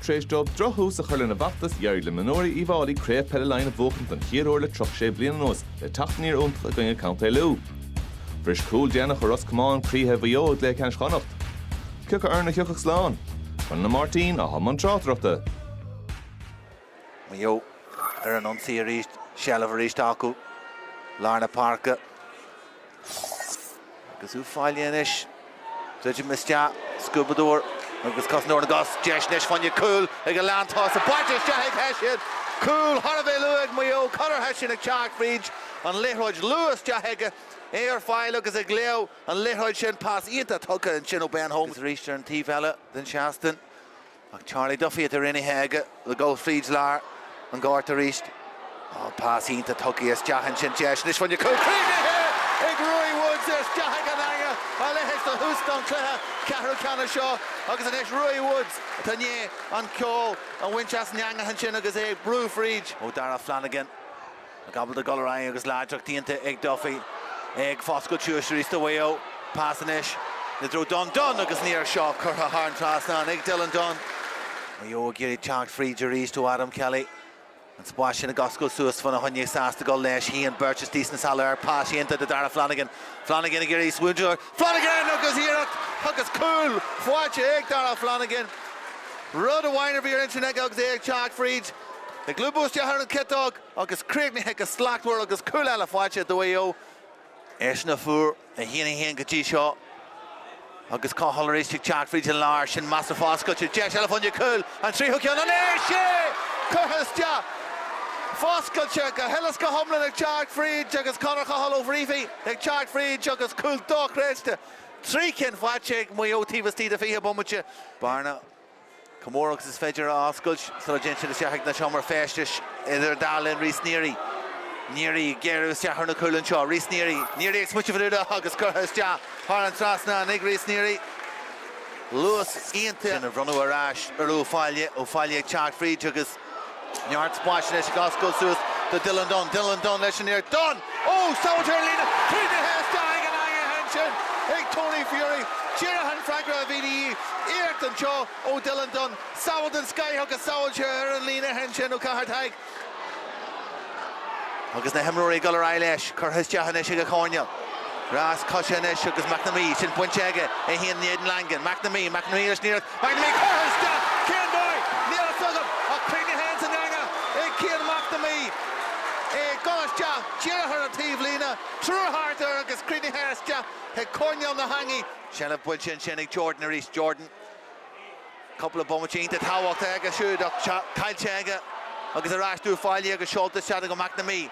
Tar éis dóibh drochthús a chur lena bhfeachtas, d'éirigh le mionúirí Uíbh Fháilí Craobh Peile Laighean a bhuachaint don chéad uair le 36 bliain anuas le teacht aniar iontach i gcoinne Contae Lú. Bhris cúl déanach ó Ros Comáin croíthe Mhaigh Eo i gcluiche ceannais Chonnacht. Cioca foireann a thiocfadh slán? Conall Ó Máirtín atá i mbun tráchtaireachta. Maigh Eo ar an ionsaí arís, seilbh arís acu lár na páirce agus Uíbh Fhailí anois, druidim isteach, scuabadóir agus cosantóir na gcos, deis anois fá choinne cúl ag an lántosaí, buailte isteach ag Hession, cúl thar a bheith luath ag Maigh Eo, Conor Hession ag teacht fríd an liathróid luath isteach aige, é ar fáil agus ag léamh an liathróid sin, pas iontach tugtha ansin ó Ben Holmes. Agus arís ar an taobh eile den seastán, Ach Charlie Duffy atá cruinnithe aige le dhul fríd lár an ghoirt arís. Tá an pas iontach tugtha isteach ansin deis anois fá choinne cúl críochnaithe ag Ruairí Woods isteach ag an eanga a leithéid do thús don chluiche ceathrú ceannais seo agus anois Ruairí Woods atá i ndiaidh an ceol a bhaint as an eangach ansin agus é ag brú fríd. Ó Darragh Flanagan. Ábalta dul ar aghaidh agus láidreacht iontach ag Duffy, é ag foscailt suas arís do Mhaigh Eo. Pas anois i dtreo Dunne. Dunne agus an iarracht seo curtha thar an trasnán ag Dylan Dunne. Maigh Eo ag iarraidh teacht fríd arís ó Adam Kelly. An spás sin ag oscailt suas fána choinne sásta dul leis. Shuíonn beirt istigh sna sála air. Pas iontach do Darragh Flanagan. Flanagan ag iarraidh smaointiú air. Flanagan agus iarracht agus cúl faighte ag Darragh Flanagan. Rud amháin a bhí ar intinn aige agus é ag teacht fríd. Ag lúbadh isteach ar an ciotóg. Agus críochnaithe go slachtmhar agus cúl eile faighte do Mhaigh Eo, eisean a fuair 1-1 go dtí seo agus Coghill arís ag teacht fríd an lár, sin measa foscailte, deis eile fá choinne cúil, an tríú ceann an ea? Sea! Curtha isteach! Foscailte go huile 's go hiomlán ag teacht fríd agus Conor Coghill ó Bhréachmhaigh ag teacht fríd agus cúl dochreidte, trí cinn faighte ag Maigh Eo taobh istigh de 20 bomaite. Bearna. Chomh mór agus is féidir a oscailt sula dtéann siad isteach ag na seomraí feistis idir dá linn, Rhys Neary, Neary ag gearradh isteach ar na cúil anseo, Rhys Neary, Neary ag smaoiteamh ar a bhualadh agus curtha isteach thar an trasnán ag Rhys Neary, luas iontach, sin a bhronnadh ar ais ar Uíbh Fhailí, Uíbh Fhailí ag teacht fríd agus. Neart spáis anois ag oscailt suas do Dylan Dunne. Dylan Dunne leis an iarracht. Dunne! Ó! Sábháilte ar an líne! Cruinnithe isteach ag an eangaigh ansin ag Tony Furey. Díreach an freagra a bhí de dhíth. Iarracht anseo ó Dylan Dunne. Sábháil den scoth agus sábháilte ar an líne ansin ó Cahair Tighe. Agus na himreoirí ag dul ar aghaidh leis, curtha isteach anois ag an choirnéal. Rás coise anois agus McNamee, sin bainte aige, é féin in éadan Langan. McNamee, McNamee leis an iarracht. McNamee, curtha isteach! Cén dóigh? Níl a fhios agam ach cruinnithe san eanga ag Cian McNamee. É ag dul isteach díreach ar an taobh líne, triúr thart air agus cruinnithe isteach ag coirnéal na heangaí. Seilbh bainte ansin ag Jordan arís. Jordan. Cúpla bomaite iontach tábhachtach aige siúd ach caillte aige agus ar ais d'Uíbh Fhailí agus seolta isteach go McNamee.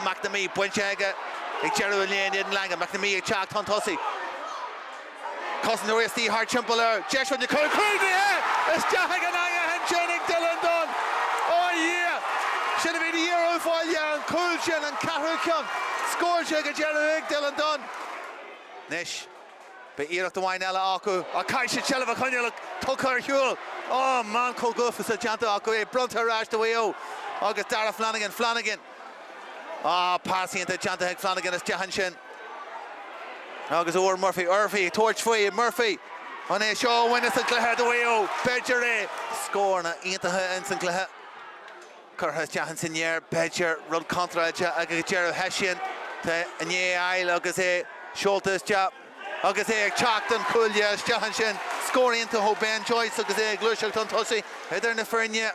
McNamee bainte aige ag deireadh an lae in éadan Langan. McNamee ag teacht chun tosaigh. Cosantóirí istigh thart timpeall air. Deis fá choinne cúil críochnaithe! Isteach ag an eangach ansin ag Dylan Dunne. Ó a Dhia! Sin a bhí de dhíth ar Uíbh Fhailí an cúl sin, an ceathrú ceann scóráilte ag an deireadh ag Dylan Dunne. Anois. Beidh iarracht amháin eile acu ach caithfidh siad seilbh a choinneáil ach tugtha ar shiúl. Ááá, meancóg uafásach déanta acu é bronnta ar ais do Mhaigh Eo agus Darragh Flanagan. Flanagan. Áá, pas iontach déanta ag Flanagan isteach ansin. Agus fuair Murphy. Murphy ag tabhairt faoi. Murphy. An é seo a bhaineas an cluiche do Mhaigh Eo? B'fhéidir é. Scóranna iontacha ins an gcluiche. curtha isteach ins an aer, b'fhéidir, rud contráilte, agus ag deireadh Hession atá in ann é a fháil agus é seolta isteach agus é ag teacht ón chuaille isteach ansin. Scór iontach ó Ben Joyce agus é ag gluaiseacht chun tosaigh idir na foirne.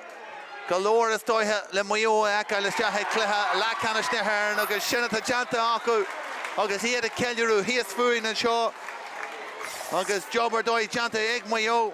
Go leor is dóiche le Maigh Eo a fheiceáil isteach ag cluiche leathcheannais na hÉireann agus sin atá déanta acu agus iad ag ceiliúradh thíos fúinn anseo agus job ar dóigh déanta ag Maigh Eo.